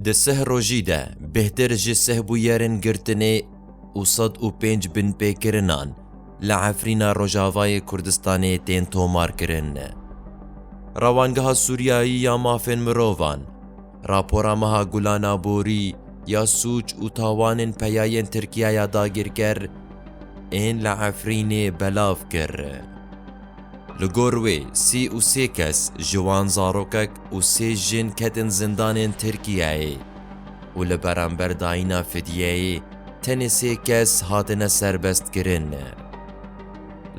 Di sih rojî de bêhtir ji sih bûyerên girtinê û sed û pênc binpêkirinan li Efrîna Rojavayê Kurdistanê tên tomarkirin. Rewangeha Sûriyayî ya Mafên Mirovan, rapora meha Gulan Aborî ya sûc û tawanên peyayên Tirkiyaya dagîrker ên li Efrînê belav kir. Li gor wê sî û sê kes ji wan zarokek û sê jin ketin zindanên Tirkiyeyê û li beramber dayîna fidyeyê tenê sê kes hatine serbestkirin.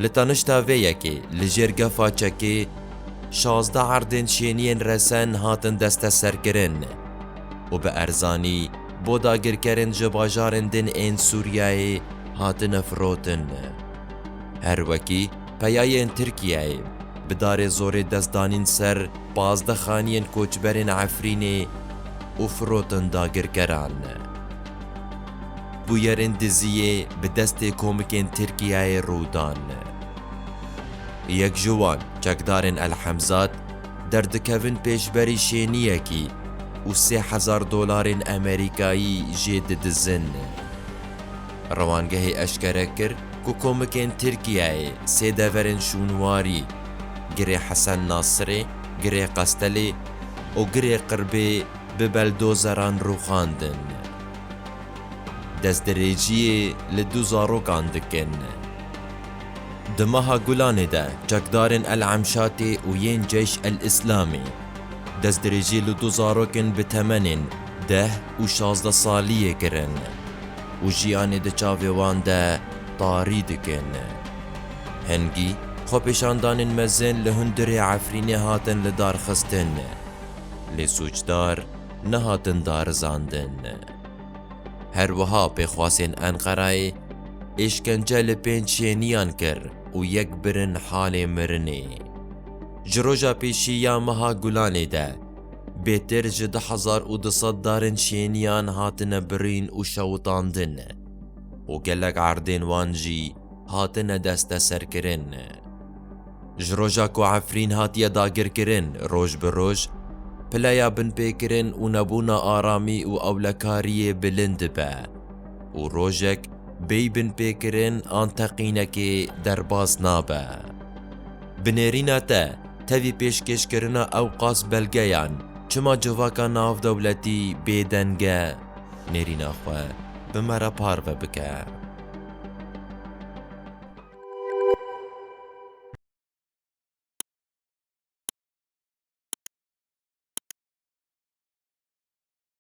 Li tanişta vê yekê li jêr gefa Çekê şazdeh erdên şêniyên resen hatin desteserkirin û bi erzanî bo dagirkerên ji bajarên din ên Sûriyeyê hatine firotin. Her wekî peyayên Tirkiyeyê, bi darê zorê dest danîn ser pazdeh xaniyên koçberên Efrînê û firotin dagirkeran. Bûyerên Diziyê bi destê komikên Tirkiyeyê rû dan. Yek ji wan çekdarên El Hemzat derdikevin pêşberî şêniyekî û sê hezar dolarên Emerîkayî jê didizin. Rewangehê eşkere kir ku komikên Tirkiyeyê sê deverên şûnwarî, Girê Hesen Nasirê, Girê Qestelê û Girê Qirbê bi beldozeran rûxandin. Destdirêjiyê li du zarokan dikin. Di meha Gulanê de çekdarên El Emşatê û yên Ceyş El Îslamê destdirêjiyê li du zarokên bi temenên deh û şazdeh saliyê kirin. û jiyanê di çavê wan de tarî dikin. Hingî xwepêşandanên mezin li hundirê Efrînê hatin lidarxistin, lê sûcdar nehatin darizandin. Her wiha pêxwasên Enqerayê êşkence li pênc şêniyan kir û yek birin halê mirinê. Ji roja pêşî ya meha Gulanê de, Bêtir ji du hezar û du sed darên şêniyan hatine birîn û şewitandin û gelek erdên wan jî hatine desteserkirin. Ji roja ku Efrîn hatiye dagirkirin roj bi roj pileya binpêkirin û nebûna aramî û ewlekariyê bilind dibe û rojek bêy binpêkirin an teqînekê derbas nabe. Bi nêrîna te, tevî pêşkêşkirina ewqas belgeyan çima civaka navdewletî bêdeng e? Nêrîna xwe bi me re parve bike.